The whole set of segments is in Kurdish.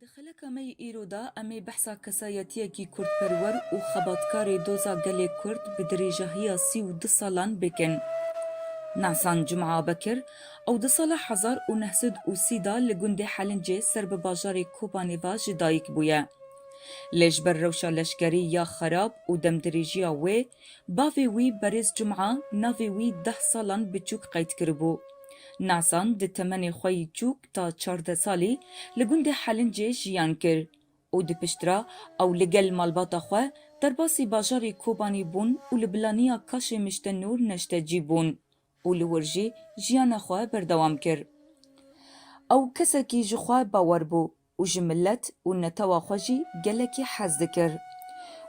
Di xeleka me yê îro de em ê behsa kesayetiyekî kurdperwer û xebatkarê doza gelê kurd bi dirêjahiya sî û du salan bikin. Nahsan Cum'a Bekir, ew di sala hezar û neh sed û sî de li gundê Helincê ser bi bajarê Kobanê ve ji dayik bûye. Lê ji ber rewşa leşkerî ya xerab û demdirêjiya wê, Bavê wî Berêz Cuma navê wî deh salan bi çûk qeyd kiribû. Nasan di temenê xwe yî çûk ta çardeh salî li gundê Helincê jiyan kir û di piştra ew li gel malbata xwe derbasî bajarê Kobanî bûn û li bilaniya Kaşê Mişte Nûr neşte cî bûn û li wir jî jiyana xwe berdewam kir. Ew kesekî ji xwe bawer bû û ji milet û netewa xwe jî gelekî hez dikir.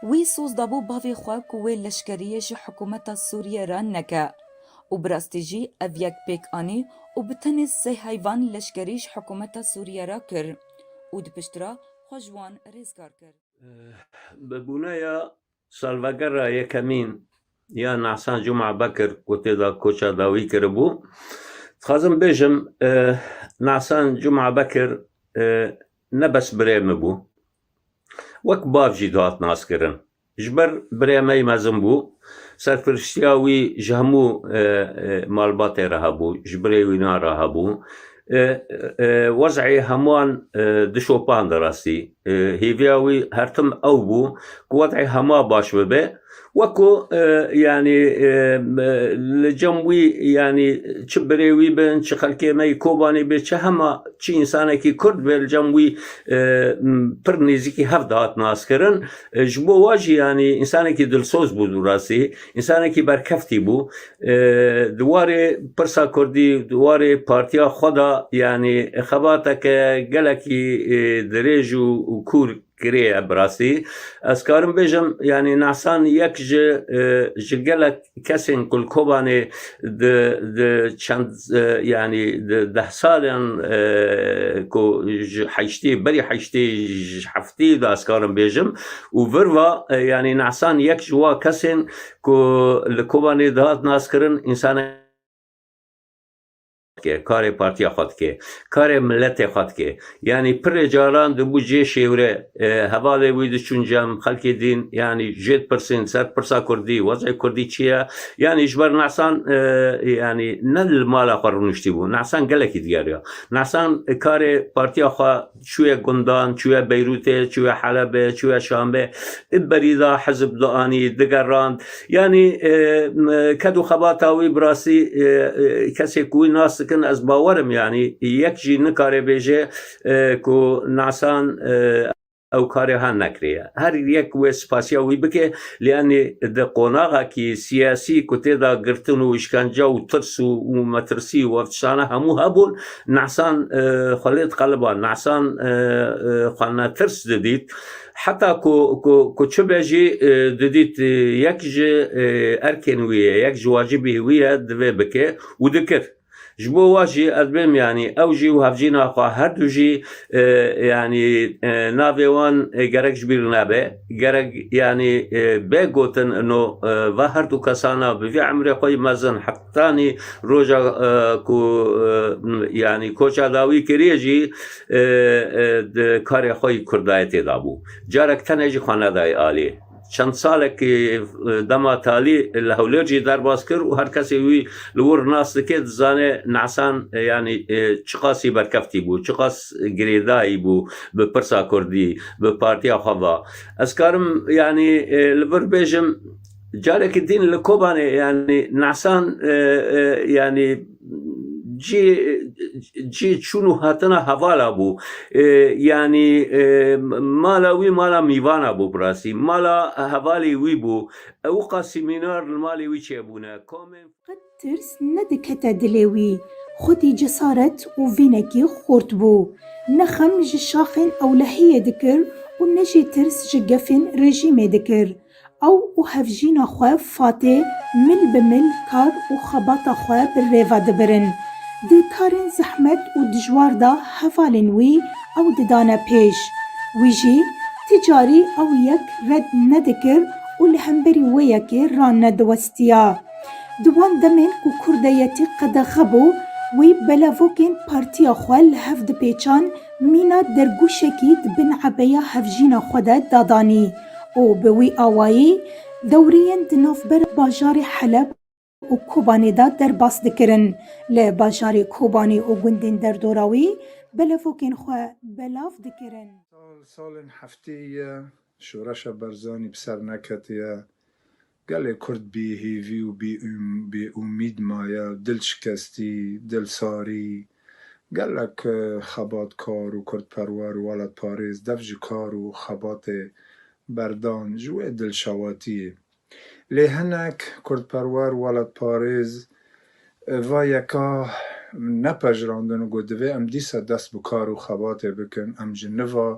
Wî soz dabû bavê xwe ku wê leşkeriyê ji hikûmeta Sûriyê re neke û bi rastî jî ev yek pêk anî û bi tenê sê heyvan leşkerî ji hikûmeta Sûriyê re kir û di pişt re xwe ji wan rêzgar kir. Bi bûneya Salvegera yekemîn ya Nahsan Cuma Bekir ku tê de koça dawî kiribû, dixwazim bêjim Nahsan Cuma Bekir ne bes birê min bû, wek bav jî dihat naskirin. Ji ber birê me yî mezin bû, serpiriştiya wî ji hemû malbatê re hebû, ji birê wîna re hebû. Wezî heman dişopand rastî. Hêviya wî her tim ew bû ku wezî hema baş bibe. Weko yanî li cem wî yanî çi birê wî bin, çi xelkê me yî Kobanî be, çi hema çi însanekî Kurd be li cem wî pir nêzîkî hev dihat naskirin. Ji bo we jî yanî însanekî dilsoz bû rastî. Însanekî berkeftî bû. Di warê pirsa kurdî, di warê partiya xwe de yanî xebateke gelekî dirêj û kûr kiriye bi rastî. Ez karim bêjim yanî Nahsan yek ji ji gelek kesên ku li Kobanê di di çend yanî di deh salan ku ji heştê berî heştê ji heftê de ez karim bêjim û vir va yanî Nahsan yek ji wa kesên ku li Kobanê dihat naskirin însanek dike, karê partiya xwe dike, karê miletê xwe dike. Yanî pirê caran dibû cê şêwre e, hevalê wî diçûn cem, xelkê dîn yanî jê dipirsîn ser pirsa Kurdî, wezê Kurdî çi ye? Yanî ji ber Nahsan e, yanî ne li mala xwe rûniştîbû, Nahsan gelekî digeriya. Nahsan karê partiya xwe Çûye gundan, çûye Beyrûtê, çûye Helebê, çûye Şamê. Di berî de hizb dianî, digerand. Yanî ked û xebata wî bi rastî kesê ku wî nas dikin ez bawer im yanî yek jî nikare bêje ku nasan ew karê ha nekiriye. Her yek wê spasiya wî bike lê yanî di qonaxekî siyasî ku tê de girtin û îşkence û tirs û metirsî û ev tiştane hemû hebûn, Nesan Xwelêt Qaliban Nesan xwe netirs didît. Heta ku çi be jî didît yek ji erkên wî ye, yek ji wacibî wî ye divê bike û dikir. Ji bo wa jî ez bêm yanî ew jî û hevjîna xwe her du jî yanî navê wan gerek ji bîr nebe. Gerek yanî bê gotin ino va her du kesana bi vî emrê xwe yî mezin Tanî roja ku yanî koça dawî kiriye jî di karê xwe yî kurdayetê de bû. Carek tenê jî xwe nedayê alî. Çend salekî dema talî li Hewlêr jî derbas kir û her kesê wî li wir nas dike dizane Nesan yanî çiqasî berkevtî bû, çiqas girêdayî bû bi pirsa kurdî, bi partiya xwe ve. Ez karim yanî li vir bêjim. Carekî dîn li Kobanê yanî nasan e, e, yanî cî cî çûn û hatina hevala bû. E, yanî e, mala wî mala mîvana bû bi rastî. Mala hevalê wî bû. Ew qasîmînar li malê wî çêbûne. Komên Qet tirs nedikete dilê wî. Xwedî cesaret û vînekî xurt bû. Ne xem ji şaxên ewlehiyê dikir û ne jî tirs ji gefên rejîmê dikir. Ew û hevjîna xwe Fatê mil bi mil kar û xebata xwe bi rêve dibirin. Di karên zehmet û dijwar de hevalên wî ew didane pêş. Wî jî ti carî ew yek red nedikir û li hemberî wê yekê rane diwestîne. Tiya. Di wan demên ku kurdeyetî qedexe bû, wî belevokên partiya xwe li hev dipêçan, mîna dergûşekî di bin ebeya hevjîna xwe de dadanî û bi wî awayî dewreyên di navber bajarê Heleb û Kobanê de derbas dikirin. Li bajarê Kobanê û gundên derdora wî belevokên xwe belav dikirin. Sal salên hefteyî ye, Şoreşa Barzanî bi ser neketiye. Gelê Kurd bî hêvî û bê umîd maye, dilşikestî, dilsarî. Gelek xebatkar û kurdperwer û welatparêz dev ji kar û xebatê berdan ji wê dilşewatiyê. Lê hinek kurdperwer û welatparêz va yeka nepejirandin û got divê em dîsa dest bi kar û xebatê bikin, em ji niva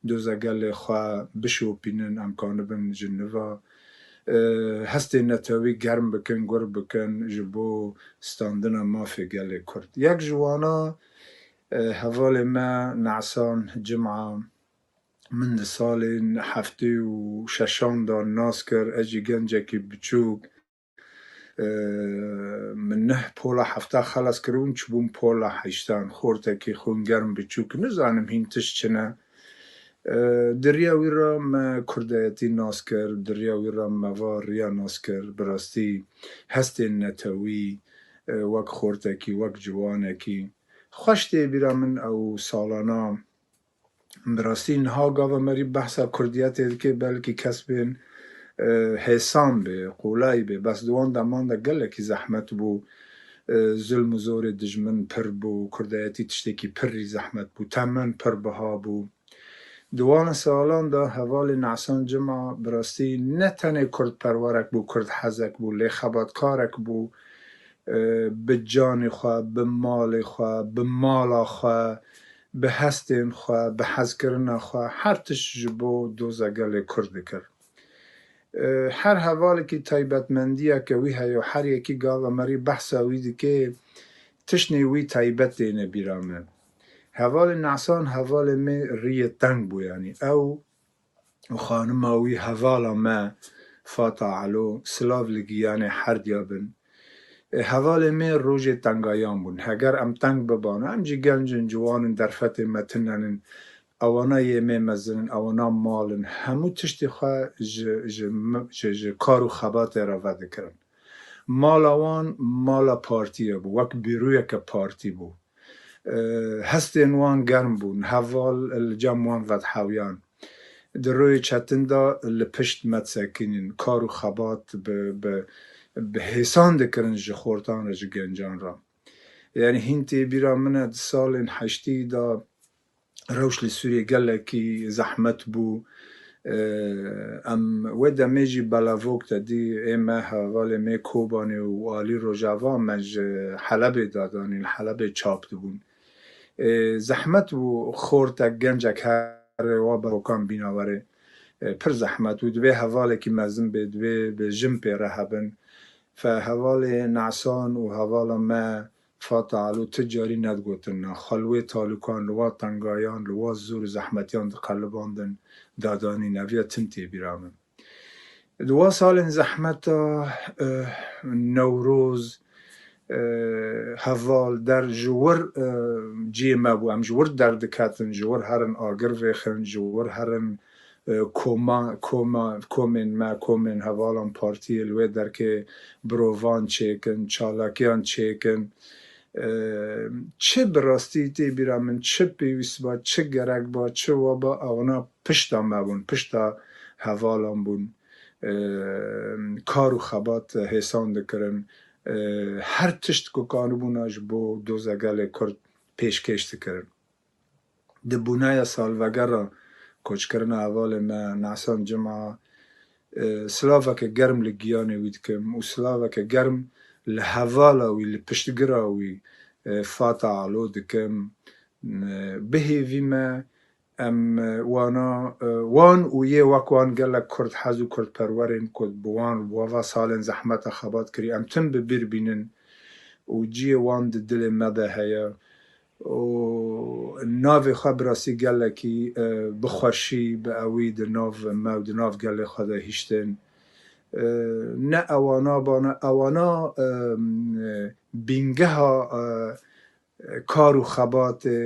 Doza gelê xwe bişopînin, em kanibin ji nûva hestên netewî germ bikin, gur bikin ji bo standina mafê gelê Kurd. Yek ji wana hevalê me Nesan Cim'a min di salên heftê û şeşan de nas kir, ez jî gencekî biçûk, Min neh pola hefta xelas kiribûn, çibûm pola heştan. Xortekî xûn germ biçûk, nizanim hîn tişt çi ne. Di riya wî re me kurdayetî nas kir, di riya wî re me va riya nas kir. Bi rastî hestên netewî, wek xortekî, wek ciwanekî xweş tê bîra min ew salana. Bi rastî niha gava me rî behsa kurdiyetê dike belkî kes bên hêsan bê, qolay bê bes di wan deman de gelekî zehmet bû, zulm û zorê dijmin pir bû, kurdayetî tiştekî pir rî zehmet bû, temen pir biha bû. Di wan salan de hevalê Nesan Cima bi rastî ne tenê kurdperwerek bû, kurdhezek bû lê xebatkarek bû bi canê xwe, bi malê xwe, bi mala xwe bi hestên xwe, bi hezkirina xwe her tişt ji bo doza gelê Kurd dikir. Her hevalekî taybetmendiyeke wî heye û her yekî gava merî behsa wî dike, tiştnê wî taybet têne bîra me. Hevalê Nesan hevalê me rîyê teng bû, yanî ew û xanima wî hevala me Fata Elo silav li giyanê herdiya bin. Hevalê me rojê tengayan bûn. Heger em teng bibana, em jî genc in, ciwan in, derfetên me tinen in. Ewana yê me mezin in, ewana mal in. Hemû tiştê xwe ji kar û xebatê re vedikirin. Mala wan mala partiyê bû, wek bîroyeke partî bû. Hestên wan germ bûn, heval li cem wan vedhewiyan. Di royê çetin de li pişt me disekînin, kar û xebat bi hêsan dikirin ji xortan re ji gencan re. Yanî hîn tê bîra min e di salên heştî de rewş li Sûriyê gelekî zehmet bû. Em wê demê jî belavok de dî ê me hevalê mê Kobanê û alî rojava me ji Helebê de danî li Helebê çap dibûn. Zehmet bû xortek gencek here wa bevokan bîna werê. Pir zehmet bû. Divê hevalekî mezin bê, divê bi jin pê re hebin. Fe hevalê Nesan û hevala me Fata Alo ti carî nedigotin na xelwê talûkan li wa tengayan, li wa zor û zehmetiyan diqelibandin, dadanîn. Ev ya tim tê bîra min. Di wa salên zehmeta Newroz, Heval, Der ji wir ciyê me bû. Em ji wir derdiketin, ji wir herin agir vêxin, ji wir herin Koma, koma, komên me, komên hevalan partiyê li wê derkê birovan çêkin, çalakiyan çêkin. Çi bi rastî tê bîra min, çi pêwîst ba, çi gerek ba, çi wa ba ewna pişta me bûn, pişta hevalan bûn. Kar û xebat hêsan dikirin. Her tişt ku kanibûna ji bo doza gelê Kurd pêşkêş dikirin. Di bûnaya salvegera koçkirina hevalên me Nasan Cima silaveke germ li giyanê wî dikim û silaveke germ li hevala wî, li piştgira wî Fata Alo dikim. Bi hêvî me em wana wan û yê wek wan gelek kurdhez û kurdperwerên ku bi wan bi ava salên zehmete xebat kirî em tim bi bîr bînin û ciyê wan di dilê me de heye û navê xwe bi rastî gelekî bi xweşî, bi ewî di nav me û di nav gelê xwe de hiştin. Ne ewana bana, ewana bîngeha kar û xebatê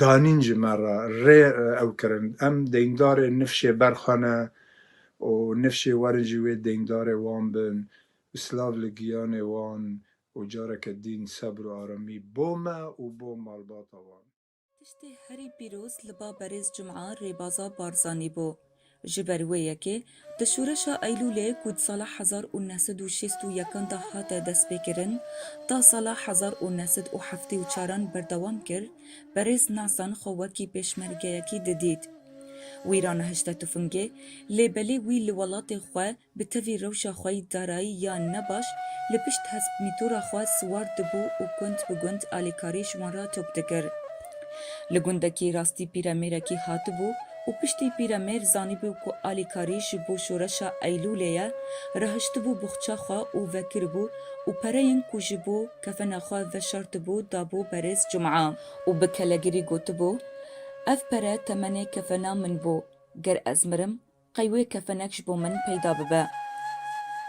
danîn ji me re, rê ew kirin. Em deyndarê nifşê ber xwe ne û nifşê werin jî wê deyndarê wan bin û silav li giyanê wan Û careke dîn sebr û aramî bo me û bo malbata wan. Tiştê herî pîroz li ba berêz Cuma Rêbaza Barzanî bû. Ji ber wê yekê di şoreşa Eylûlê ku di sala hezar û neh sed û şêst û yekan de hate destpêkirin ta sala hezar û neh sed û heftê û çaran berdewam kir, berêz Nasan xwe wekî pêşmergeyekî didît. Wî ranehişte tufingê, lê belê wî li welatê xwe, Bi tevî rewşa xwe yî darayî yan ne baş, li pişt hesp mîtora xwe siwar dibû û gund bi gund alîkarî ji wan re top dikir. Li gundekî rastî pîremêrekî hatibû û piştî pîremêr zanîbû ku alîkarî ji bo şoreşa Eylûlê ye, rehiştibû boxça xwe û vekiribû û pereyên ku ji bo kefena xwe veşartibû dabû berêz Cuma. Û bi kelegirî gotibû, Ev pere temenê kefena min bû, ger ez mirim, Qey wê kefenek ji bo min peyda bibe.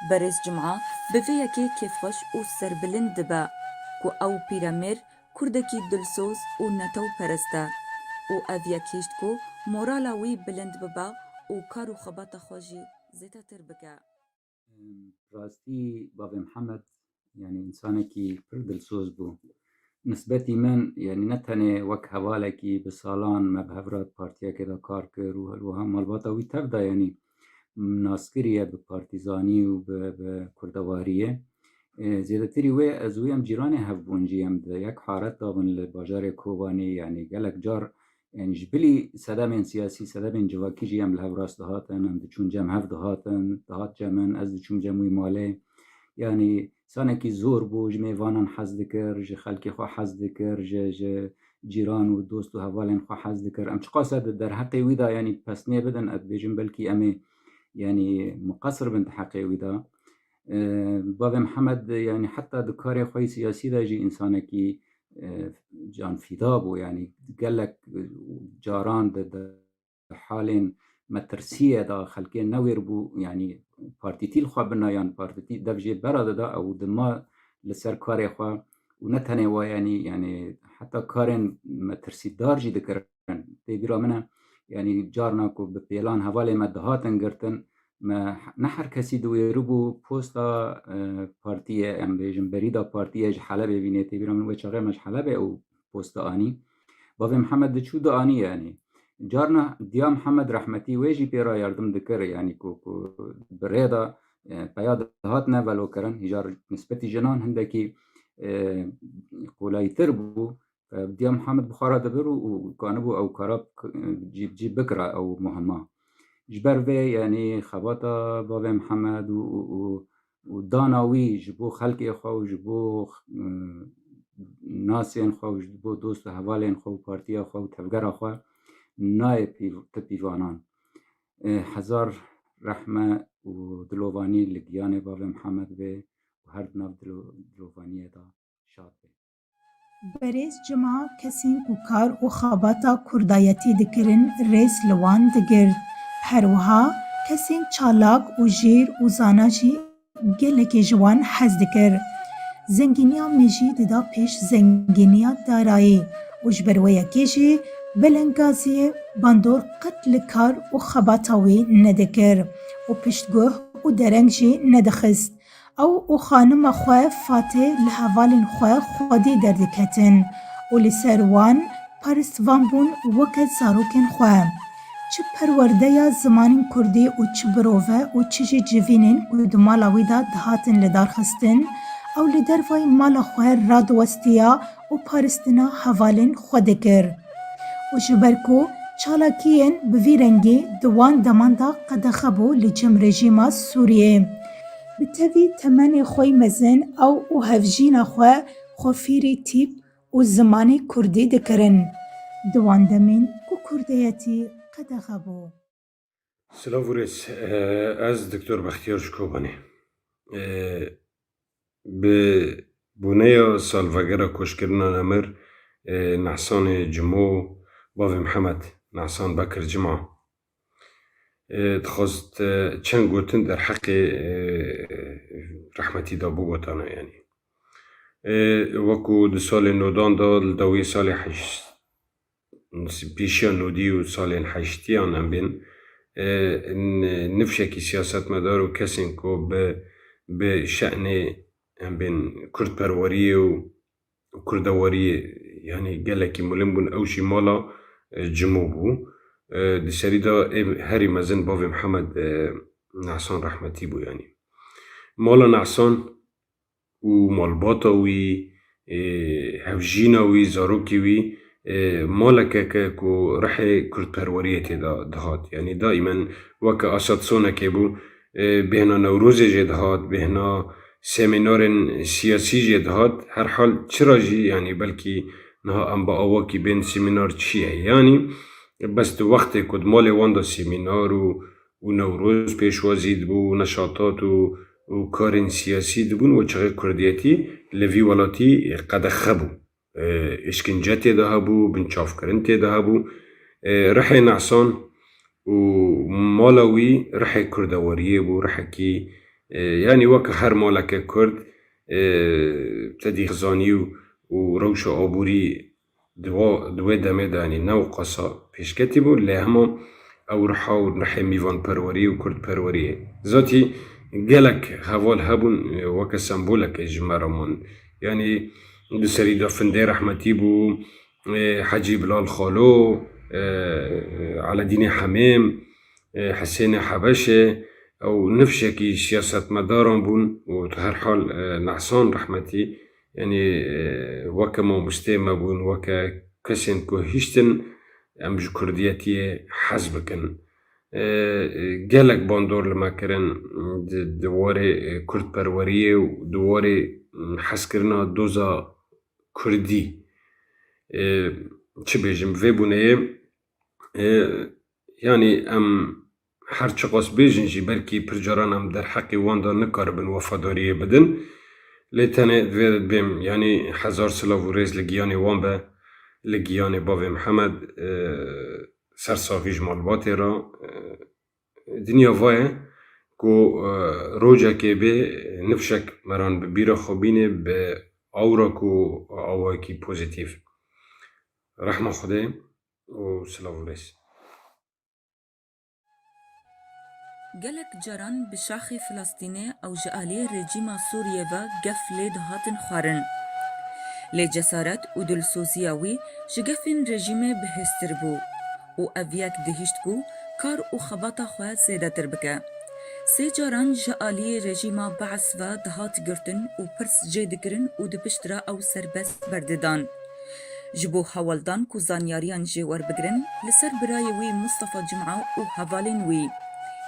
Berêz Cuma bi vê yekê kêfxweş û serbilind dibe ku ew pîremêr kurdekî dilsoz û netewperest e û ev yek hişt ku morala wî bilind bibe û kar û xebata xwe jî zêdetir bike. Rastî bavê Mihemed yanî însanekî pir dilsoz bû. Nisbetî min yanî ne tenê wek hevalekî bi salan me bi hev re partiyekê de kar kir û her wiha malbata wî tev de yanî nas kiriye bi partîzanî û bi bi kurdewariyê. Zêdetirî wê ez û em cîranê hev bûn jî em di yek haret de bin li bajarê Kobanê yanî gelek car Yani ji bilî sedemên siyasî, sedemên civakî jî em li hev rast dihatin, em diçûn cem hev dihatin, dihat cem min, ez diçûm cem wî malê. Yani sanekî zor bû, ji mêvanan hez dikir, ji xelkê xwe hez dikir, ji ji cîran û dost û hevalên xwe hez dikir. Em çiqasa di derheqê wî de yanî pesnê bidin, ez dibêjim belkî em ê yanî miqesir bin di heqê wî de. Bavê Mihemed yanî heta di karê xwe yê siyasî de jî însanekî canfîda bû yanî gelek caran di halên metirsiyê de xelkê newêr bû yanî partîtî li xwe bina yan partîtî dev jê bera dida ew dima li ser karê xwe û ne tenê we yanî yanî heta karên metirsîdar jî dikir dikin. Tê bîra min e yanî carna ku bi pêlan hevalê me dihatin girtin me ne her kesî diwêribû posta e, partiyê em bêjin berîda partiyê ji Helebê vînê tê bîra min wê çaxê me ji Helebê û posta anî. Bavê Mihemed diçû da anî yanî. Carna Diya Mihemed rehmetî wê jî pê ra yardim dikir yanî ku ku bi rê da e, peya dihatine velokirin hîjar nisbetî jinan hindekî e, qolayîtir bû. Diya Muhammed bixwara dibir û kanibû ew kara cî bi cî bikira ew muhima. Ji ber vê yanî xebata bavê Muhammed û û dana wî ji bo xelkê xwe û ji bo nasên xwe û ji bo dost û hevalên xwe û partiya xwe û tevgera xwe nayê pîv ti pîvanan. Hezar rehme û dilovanî li giyanê bavê Muhammed bê û her di nav dilovaniyê de şad bê. Berêz cima kesên ku kar û xebata kurdayetî dikirin rêz li wan digirt. Her wiha kesên çalak û jêr û zana jî gelekê ji wan hez dikir. Zengîniya me jî dida pêş zengîniya darayî û ji ber wê yekê jî Beleng Gaziyê bandor qet li kar û xebata wî nedikir û piştguh û dereng jî nedixist. Ew û xanima xwe Fatê li hevalên xwe xwedî derdiketin û li ser wan paristvan bûn weke zarokên xwe. Çi perwerdeya zimanên kurdî û çi birove û çi jî civînên ku di mala wî de dihatin lidarxistin, ew li dervayî mala xwe radiwestiya û paristina hevalên xwe dikir û ji ber ku çalakiyên bi vî rengî di wan deman de qedexe bû li cem rejîma Sûriyê, bi tevî temenê xwe mezin ew û hevjîna xwe xwe fêrî tîp û zimanê kurdî dikirin. Di wan demên ku kurdeyetî qedexe bû. Silav û rêz. Ez Doktor Bextiyar ji Kobanê. Bi boneya salvegera koçkirina Nemir Nehsanê Cimo bavê Mihemed Nehsan Bekir Cima dixwest çend gotin derheqê rehmetî de bigotana yanî. Wekû di salê nodan de li dawiyê salê heşt pêşiya nûdî û salên heştîyan em bên, nifşekî siyasetmedar û kesên ku bi bi şenê em bên kurdperweriyê û kurdewariyê yanî gelekî milim bûn ew jî mala Cimo bû. Di serî de ê herî mezin bavê Mihemed Nehsan rehmetî bû yanî. Mala Nehsan. ku malbata wî, hevjîna wî, zarokê wî malekek e ku rihê kurdperweriyê tê de dihat. Yanî daîmen weke Asad sonekê bû, bêhna Newrozê jê dihat, bêhna semînarên siyasî jê dihat. Herhal çira jî yanî belkî niha em bi awakî bên semînar çi ye? Yanî bes di wextê ku di malê wan de semînar û û Newroz pêşwazî dibû û neşatat û û karên siyasî dibûn û çixê kurdiyetî li vî welatî qedexe bû. Îşkence tê de hebû, binçavkirin tê de hebû. Rihê Nesan û mala wî rihê kurdeweriyê bû, rihekî yanî weke her maleke kurd tedîxizanî û rewşa aborî Di wê demê de ne û qasa pêşketî bû lê hema ew riha û nihê mîvanperweriyê û kurdperweriyê zatî gelek heval hebûn weke sembolekê ji me re man. Yanî di serî de Findê Rehmetî bû, Hecî Bilal Xalo, Eledînê Hemêm, Hisênê Hebeşê ew nifşekî siyasetmedaran bûn û di her hal Nehsan Rehmetî Yanî weke mamosteyê me bûn, weke kesên ku hiştin em ji kurdiyetiyê hez bikin. Gelek bandor li me kirin di warê kurdperweriyê û di warê hezkirina doza kurdî. Çi bêjim vê bûneyê yanî em Her çiqas bêjin jî belkî pir caran em derheqê wan de nikaribin wefadariyê bidin. Lê tenê divê bêm yanî hezar silav û rêz li giyanê wan be, li giyanê bavê Mihemed, ser savî ji malbatê re. Dinya va ye ku rocekê bê nifşek meran bi bîra xwe bînê bi awra ku awayekî pozîtîf. Rehma Xwedê û silav û rêz. Gelek caran bi şaxê Filastînê ew ji aliyê rejîma Sûriyê ve gef lê dihatin xwarin. Lê cesaret û dilsoziya wî ji gefên rejîmê bihêztir bû û ev yek dihîşt ku kar û xebata xwe zêdetir bike. Sê caran ji aliyê rejîma Baas ve dihat girtin û pirs jê dikirin û di pişt re ew serbest berdidan. Ji bo hewaldan ku zanyariyan jê werbigirin li ser birayê wî Mustafa Cum'a û hevalên wî.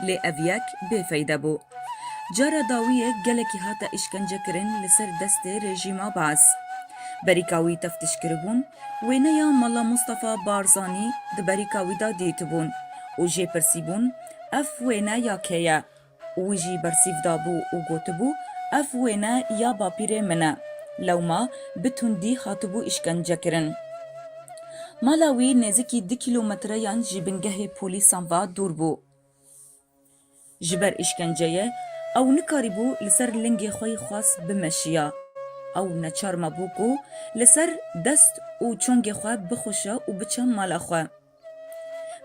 Lê ev yek bêfeyde bû. Cara dawî yê gelekî hate îşkencekirin li ser destê rejîma Baas. Berîka wî teftişkiribûn, wêneya mala Mustafa Barzanî di berîka wî de dîtibûn û jê pirsîbûn, Ev wêne ya kê ye? Wî jî bersîv dabû û gotibû, Ev wêne ya bapîrê min e. Lewma bi tundî hatibû îşkencekirin. Mala wî nêzîkî du kîlometreyan ji bingehê polîsan ve dûr bû. Ji ber îşkenceyê ew nikarîbû li ser lingê xwe yî xwest bimeşiya. Ew neçar mabû ku li ser dest û çongê xwe bixweşe û biçe mala xwe.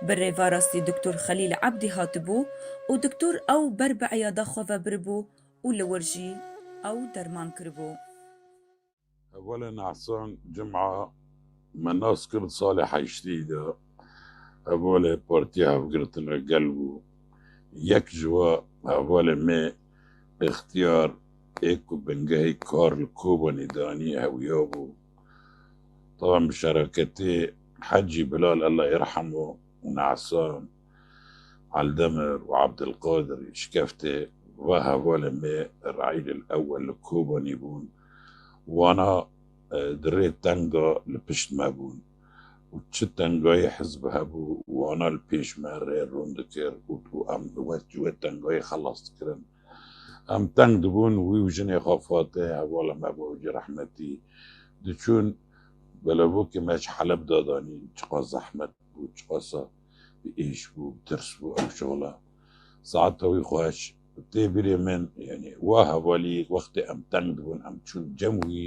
Bi rêverastî Diktor Xelîl Ebdî hatibû û diktor ew ber bi eyada xwe ve biribû û li wir jî ew derman kiribû. Hevalê Nehsan Cuma me nas kir salê heştî de hevalê Partiya Hevgirtina Gel bû. Yek ji we hevalê mê Îxtiyar ê ku bingehê kar li Kobanî danî hewiyabû. Taban bi şereketê Hecî Bilal Ella Yirhemû û Ne'san Eldemir û Ebdilqadirî şikeftê va hevalên me Reîlil Ewel li Kobanî bûn û wana di rê teng de li pişt me bûn û çi tengayê hizb hebû wana li pêş me rê rûn dikir û em li wê tengayê xelas dikirin. Em teng dibûn, wî û jinê xwe Fatih, hevala me bû ji rehmetî, diçûn. Belebokê me ji Heleb da danîn. Çiqas zehmet bû, çiqasa bi êş bû, bi tirs bû ev şixla. Saeta wî xweş. Tê birê min, yanî wa hevalî wextê em teng dibûn, em çûn cem wî.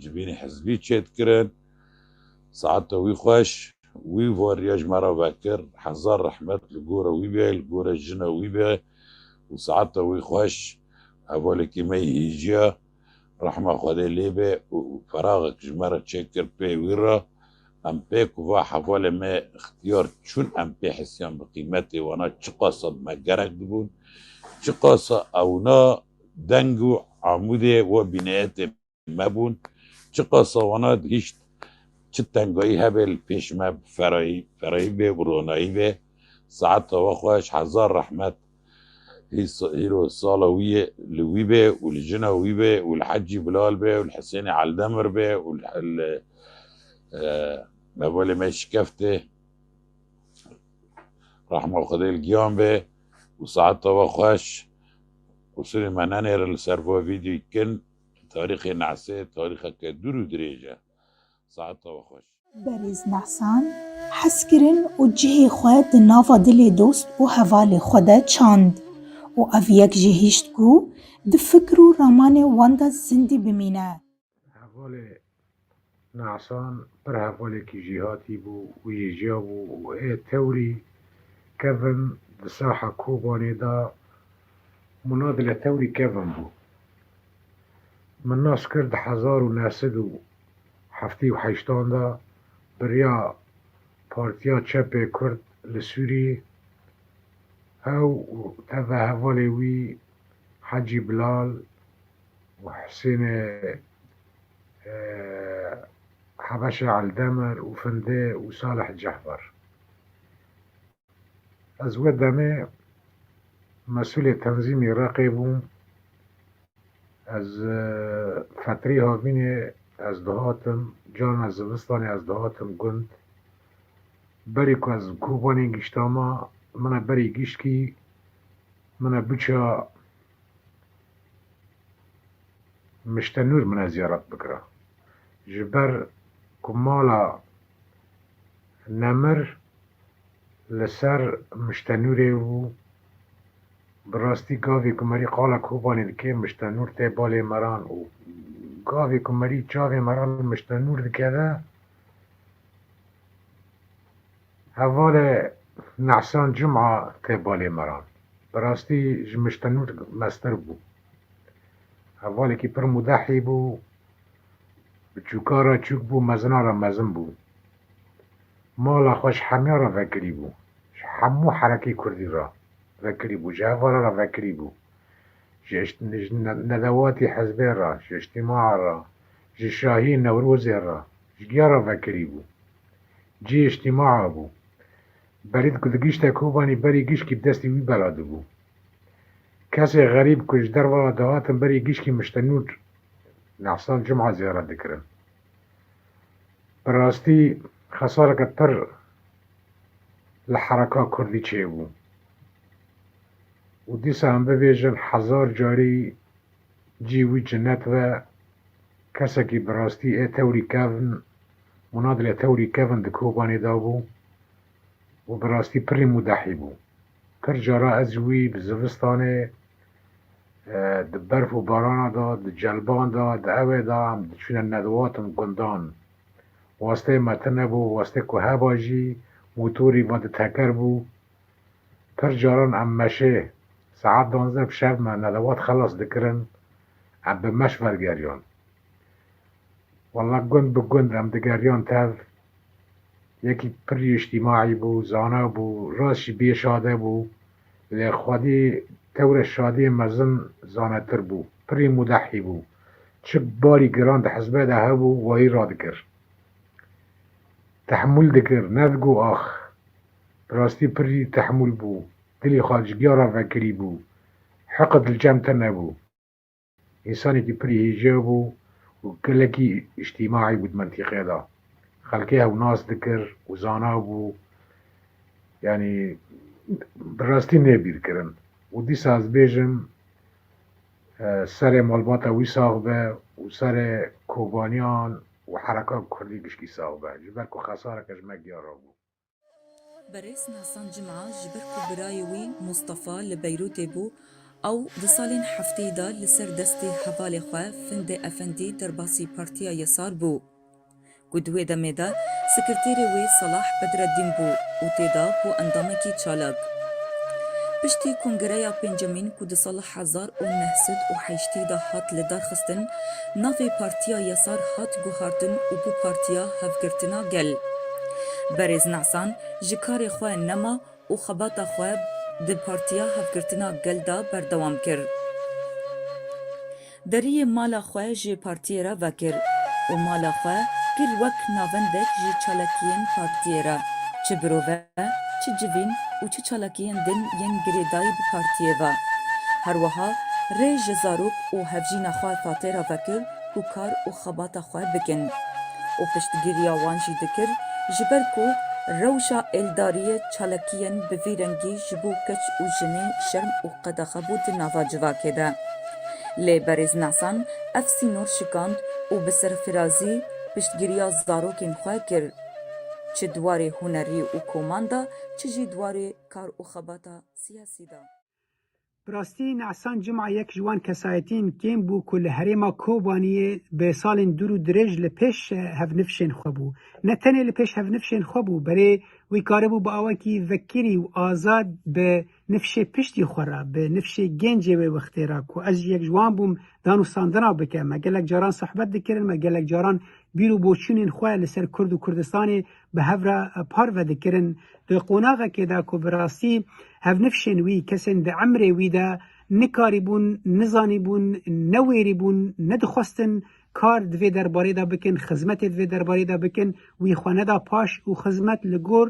Civînê hizbî çêt kirin. Saete wî xweş. Wî vo riya ji me re vekir. Hezar rehmet li gora wî be, li gora jina wî be û saete wî xweş. Hevalekî me yê hîjiya rehma Xwedê lê be û feraxek ji me re çêkir pê wî re. Em pêk û va hevalê me ixtiyar çûn. Em pê hisiyan bi qîmetê wana çiqasa bi me gerek dibûn. Çiqasa ewna Deng û amûdê we bîneyetê me bûn. Çiqas sawana dihîşt, çi tengayî hebe li pêş me bi ferayî, ferayî bê û ronayî bê. Saeta we xweş, hezar rehmet hîro sala wî yê li wî bê û li jina wî bê û li Hecî Bilal bê û li Hisênê Eldemir bê û li hevalê me şikeftê rehma Xwedê li giyan bê û saeta we xweş. Qûsirê me nenêre li ser vê vîdyoyê kin tarîxê Nehsê tarîxeke dûr û dirêj e. Saet tawa xweş. Berêz Nehsan hez kirin û cihê xwe di nava dilê dost û hevalê xwe de çand û ev yek jî hişt ku di fikr û ramanê wan de zindî bimîne. Hevalê Ne'san pir hevalekî jîhatî bû û yêjiya bû û ê tewrî kevin di saha Kobanê de mûna di li tewrî kevin bû. Min nas kir di hezar û neh sed û heftê û heştan de biriya Partiya Çepê Kurd li Sûrî ew û teve hevalê wî Hecî Bilal Muhsînê Hebeşê Eldemir û Findê û Salih Cehbar. Ez wê demê mesûlê tenzîmê Reqê bûm. Ez fetrî havînê ez dihatim, carna zivistanê ez dihatim gund. Berî ku ez Kobanê giştama, min e berî gişt kî, min e biça Mişte Nur min e ziyaret bikira. Ji ber ku mala Nemir li ser Mişte Nurê bû, bi rastî gavê ku merî qala Kobanê dike Mişte Nur tê balê meran û gavê ku merî çavê meran li Mişte Nur dikeve Hevalê Nehsan Cuma tê balê meran. Bi rastî ji Miştenûr meztir bû. Hevalekî pir mudehî bû, biçûka re çûk bû, mezina re mezin bû. Mala xwe ji hemiyan re vekirî bû. Ji hemû herekê kurdî re vekirî bû. Ji hevala re vekirî bû. Ji ji nedewatî hizbê re, ji îjtîmaa re, ji şahî Newrozê re, ji giya re vekirî bû. Cihê îjtîmaa bû. Berîd ku digihîşte Kobanî berî gişkî bi destê wî bela dibû. Kesê xerîb ku ji derve ve dihatin berî gişkî miştenûr nexsan cumha ziyaret dikirin. Bi rastî xesareke pir li hereka kurdî çêbû û dîsa em bibêjin hezar carî Cî wî cinnet be, kesekî bi rastî ê tewrî kevn û nadilê tewrî kevn di kobanê de bû û bi rastî pirrî mûdehî bû. Pir cara ez wî bi zivistanê di berf û barana de, di celban de, di ewê de em diçûne nedwatin gundan. Wasteyê me tune bû, wastê ku heba jî motorî vadi teker bû. Pir caran em meşê saet duanzdeh bi şev me nelewat xelas dikirin, em bi meş vergeriyon. Walla gund bi gund em digeriyon tev, yekî pir îctîmaî bû, zana bû, rast jî bê şade bû, lê xwedî tewrê şadiyê mezin zanetir bû, pirî mudehî bû, çi barî giran di hizbê de hebû wayî radikir. Tehemûl dikir, ne digo ax. Bi rastî pirrî tehmûl bû. Dilî xwe ji giya re vekirî bû. Hiqi dilcem teme bû. Însanekî pirrî hîjêw bû û gelekî îctîmaî bû di mintîqê de. Xelkê hew nas dikir û zana bû. Yanî bi rastî nê bîrkirin. Û dîsa ez bêjim serê malbata wî sax be û serê kobaniyan û hereka kurdî gişkî sax be. Ji ber ku xesareke ji me giya re bû. Berêz Nasan Cima ji ber ku birayê wî Mustafa li Beyrûtê bû, ew di salên hefteyê de li ser destê hevalê xwe Findê Efendî derbasî Partiya Yesar bû ku di wê demê de sekirtêrê wê Salah Bedreddîn bû û tê de bû endamekî çalak. Piştî kongereya pêncemîn ku di sala hezar û neh sed û heştê de hat lidarxistin, navê Partiya Yesar hat guhardin û bû Partiya Hevgirtina Gel. Berêz Nesan ji karê xwe nema û xebata xwe di Partiya Hevgirtina Gel de berdewam kir. Deriyê mala xwe ji Partiyê re vekir û mala xwe kir wek navendek ji çalakiyên Partiyê re, çi birove, çi civîn û çi çalakiyên din yên girêdayî bi partiyê ve. Her wiha rê ji zarok û hevjîna xwe Tate re vekir ku kar û xebata xwe bikin û piştgiriya wan jî dikir ji ber ku rewşa êldariyê çalakiyên bi vî rengî ji bo keç û jinê şerm û qedaxe bû di nava civakê de. Lê Berêz Nasan ev sînor şikand û bi serfirazî piştgiriya zarokên xwe kir. Çi di warê hunerî û koman de, çi jî di warê kar û xebata siyasî de. Bi rastî Nehsan Cuma yek ji wan kesayetîn kêm bû ku li herêma Kobaniyê bi salên dûr û dirêj li pêş hevnivşên xwe bû. Ne tenê li pêş hevnivşên xwe bû, belê wî karibû bi awekî vekirî û azad bi nifşê piştî xwe re, bi nifşê gencê wê wextê re ku ez jî yek ji wan bûm danûstandina bike. Me gelek caran sohbet dikirin, me gelek caran bîr û boçûnên xwe li ser Kurd û Kurdistanê bi hev re parve dikirin. Di qonaxekê de ku bi rastî hevnifşên wî, kesên di emrê wî de nikarîbûn, nizanîbûn, newêrîbûn, nedixwestin kar di vê derbarê de bikin, xizmetê di vê derbarê de bikin, wî xwe neda paş û xizmet li gor.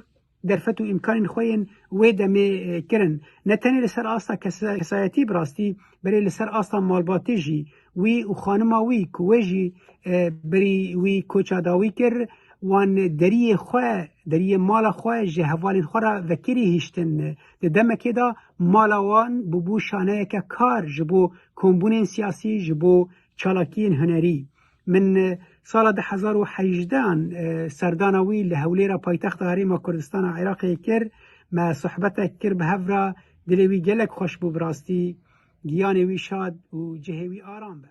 Derfet û îmkanên xwe yên wê demê kirin, ne tenê li ser asta kesayetî bi rastî berê li ser asta malbatê jî, wî û xanima wî ku wê jî berî wî koça dawî kir, wan deriyê xwe, deriyê mala xwe ji hevalên xwe re vekirî hiştin. Di demekê de mala wan bûbû şaneyeke kar ji bo kombûnên siyasî, ji bo çalakiyên hunerî. Min sala du hezar û hejdeh an serdana wî li Hewlêra paytexta Herêma Kurdistana Iraqê kir. Me sohbetek kir bi hev re. Dilê wî gelek xweş bû bi rastî. Giyanê wî şad û cihê wî aram be.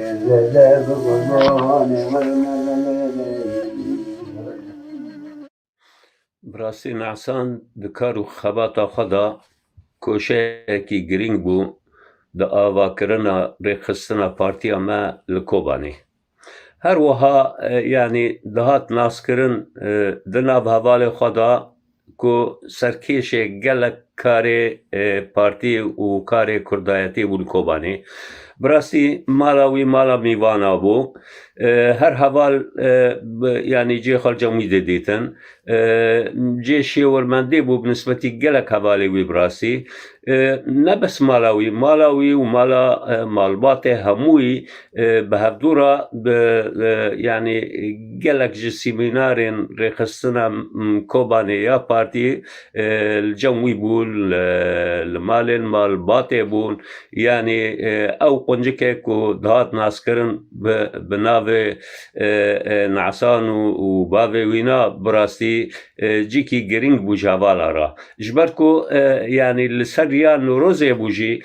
Bi rastî Mehsan di kar û xebata xwe de koşeyekî girîng bû di avakirina rêxistina partiya me li Kobanê. Her wiha yanî dihat naskirin di nav hevalê xwe de ku serkêşê gelek karê partî û karê kurdayetî bûn Kobanî. Bi rastî mala wî mala mîvana bû. Her heval yanî cê xalcên wî dê dîtin. Cê şêwirmendê bû bi nisbetî gelek hevalê wî bi rastî. Ne bes mala wî, mala wî û mala malbatê hemû wî bi hevdû re bi yanî gelek ji sîmînarên rêxistina Kobanê ya partî li cem wî bûn, li malên malbatê bûn. Yanî ew quncikê ku dihat naskirin bi navê Nesan û bavê wî ne bi rastî cîkî girîng bû ji hevala re. Ji ber ku yanî li ser riya Nowrozê bû jî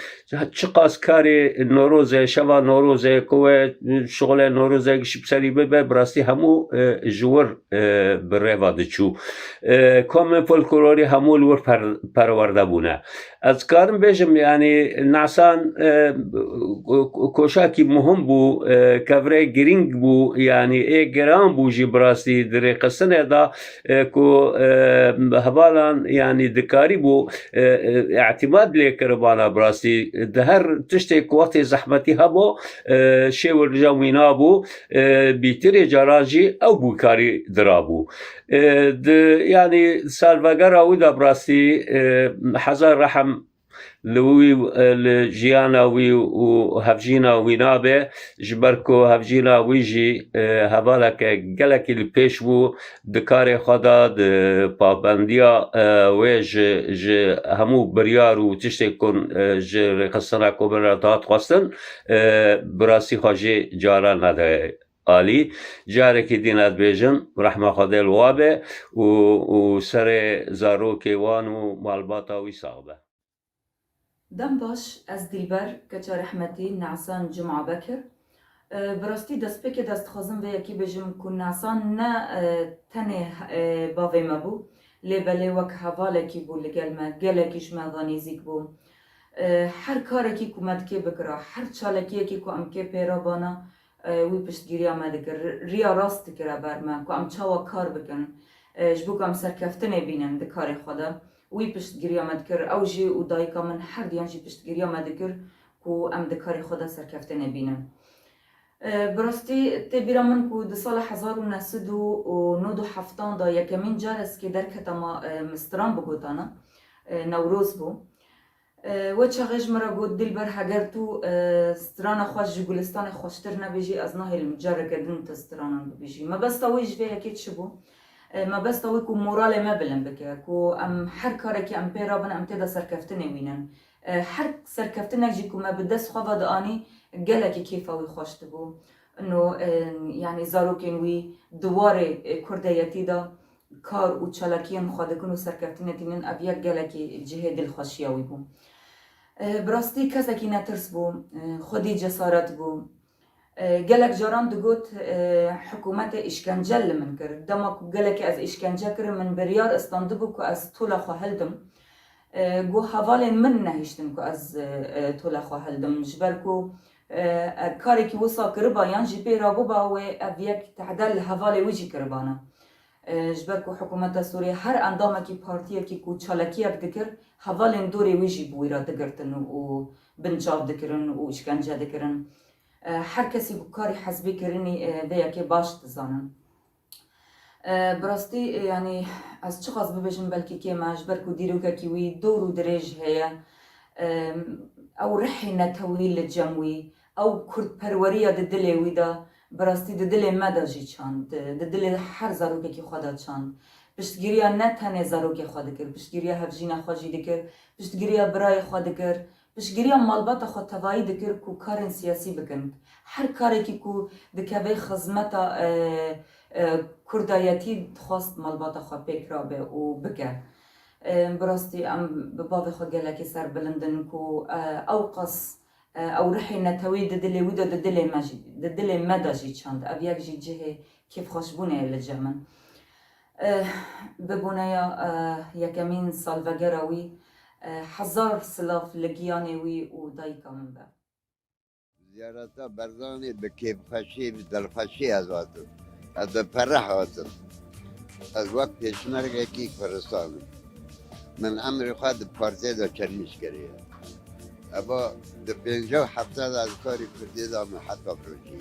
çiqas karê Nowrozê, şeva Nowrozê ku we şixulê Nowrozê ji bi serî bibe bi rastî hemû ji wir bi rêva diçû. Komên folklorî hemû li wir perwerde bûne. Ez dikarim bêjim yanî Nasan koşakî muhim bû, kevirê girîng bû yanî ê giran bû jî bi rastî di rêxistinê de. ku hevalan yanî dikarîbû îtîmad lê kiribana bi rastî di her tiştê ku wextê zehmetî hebû şêwirija wî nabû bîtirê caran jî ew bû karî dirabû di yanî salvegera wî de bi rastî hezar rehm Li wî li jiyana wî û hevjîna wî nabe ji ber ku hevjîna wî jî hevaleke gelekî li pêş bû di karê xwe de di pabendiya wê ji ji hemû biryar û tiştê ku ji Rêxistina Komê re dihat xwestin bi rastî xwe jê cara nede. Alî, Carekî dî ne dibêjin, rehma Xwedê li wan be û û serê zarokê wan û malbata wî sax be. Dem baş ez Dîlber keça rehmetî Nesan Cuma Bekir bi rastî destpêkê dest dixwazim vê yekê bêjim ku Nesan ne tenê bavê me bû lê belê wek hevalekî bû li gel me gelekî ji me ve nêzîk bû her karekî ku me dikê bikira her çalekiyekî ku em kê pê re bana Wî piştgîriya me dikir, riya rast dikire ber me ku em çawa kar bikin ji bo ku em serkeftinê bînin di karê xwe de. Wî piştgîriya me dikir, ew jî û dayika min herduyan jî piştgîriya me dikir ku em di karê xwe de serkeftinê bînin. Bi rastî tê bîra min ku di sala hezar û neh sed û nod û heftan de yekemîn car ez ki derketama mi stran bigotana, Newroz bû. We çaxê ji min re got, Dîlber heger tu strana xwe ji Gulistanê xweştir nebêjî ez nahêlim careke din te stranan bibêjî. Mebesta wî ji vê yekê çi bû? Mebesta wî ku moralê me bilind bike, ku em her karekî em pê re bin em tê de serkeftinê wînin. Her serkeftinek jî ku me bi dest xwe ve dianî gelekî kêfa wî xweş dibû. Ino yanî zarokên wî di warê kurdeyetî de kar û çalakiyên xwe dikin û serkeftinê tînin ev yek gelekî cihê dilxweşiya wî bû. Bi rastî kesekî netirs bû, xwedî cesaret bû. Gelek caran digot, Hikûmetê îşkence li min kir. Dema ku gelekî ez îşkence kirim min biryar istandibû ku ez tola xwe hildim. Goh hevalên min nehiştin ku ez tola xwe hildim. Ji ber ku Ev karekî wisa kiriba yan jî pê rabiba wê ev yek tehde li hevalê wî jî kiribana. Ji ber ku hikûmeta Sûriyê her endamekî partiyekî ku çalakiyek dikir hevalên dorê wî jî bi wî re digirtin û binçav dikirin û îşkence dikirin. Her kesî bi karî hezbî kirinî vê yekê baş dizanin. Bi rastî yanî ez çiqas bibêjim belkî kêm e ji ber ku dîrokekî wî dor û dirêj heye. Ew rihê netewî li cem wî, ew kurdperweriya di dilê wî de bi rastî di dilê me de jî çand, di dilê her zarokekî xwe de çand. Piştgiriya ne tenê zarokê xwe dikir, piştgiriya hevjîna xwe jî dikir, piştgiriya birayê xwe dikir Piştgiriya malbata xwe tevayî dikir ku karên siyasî bikin. Her karekî ku dikeve xizmeta kurdayetî dixwast malbata xwe pêk rabe û bike. Bi rastî em bi bavê xwe gelekî serbilind in ku ew qas ew ruhê neteweyî di dilê wî de di dilê me jî di dilê me de jî çand. Ev yek jî cihê kêfxweşbûnê ye li cem in. Bi boneya yekemîn salvegera wî hezar silav li giyanê wî û dayika min be. Ziyareta Berzanî bi kêfxweşî, bi dilxweşî ez hatim. Ez bi pereh hatim. Ez wek pêşmergekî Kurdistanê me. Min emrê xwe di partiyê de çermîş kiriye. Eva di pênca û hefta de ez karê Kurdiyê de me heta birojî.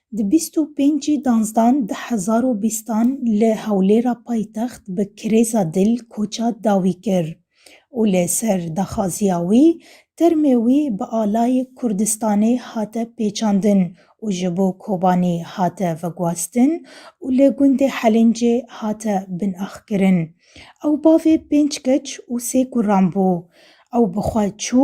Di bîst û pêncî danzdan di hezar û bîstan li Hewlêra paytext bi kirêza dil koça dawî kir û li ser daxwaziya wî termê wî bi alayê Kurdistanê hate pêçandin û ji bo Kobanî hate veguhestin û li gundê Helîncê hate binaxkirin. Ew bavê pênc keç û sê kuran bû. Ew bi xwe çû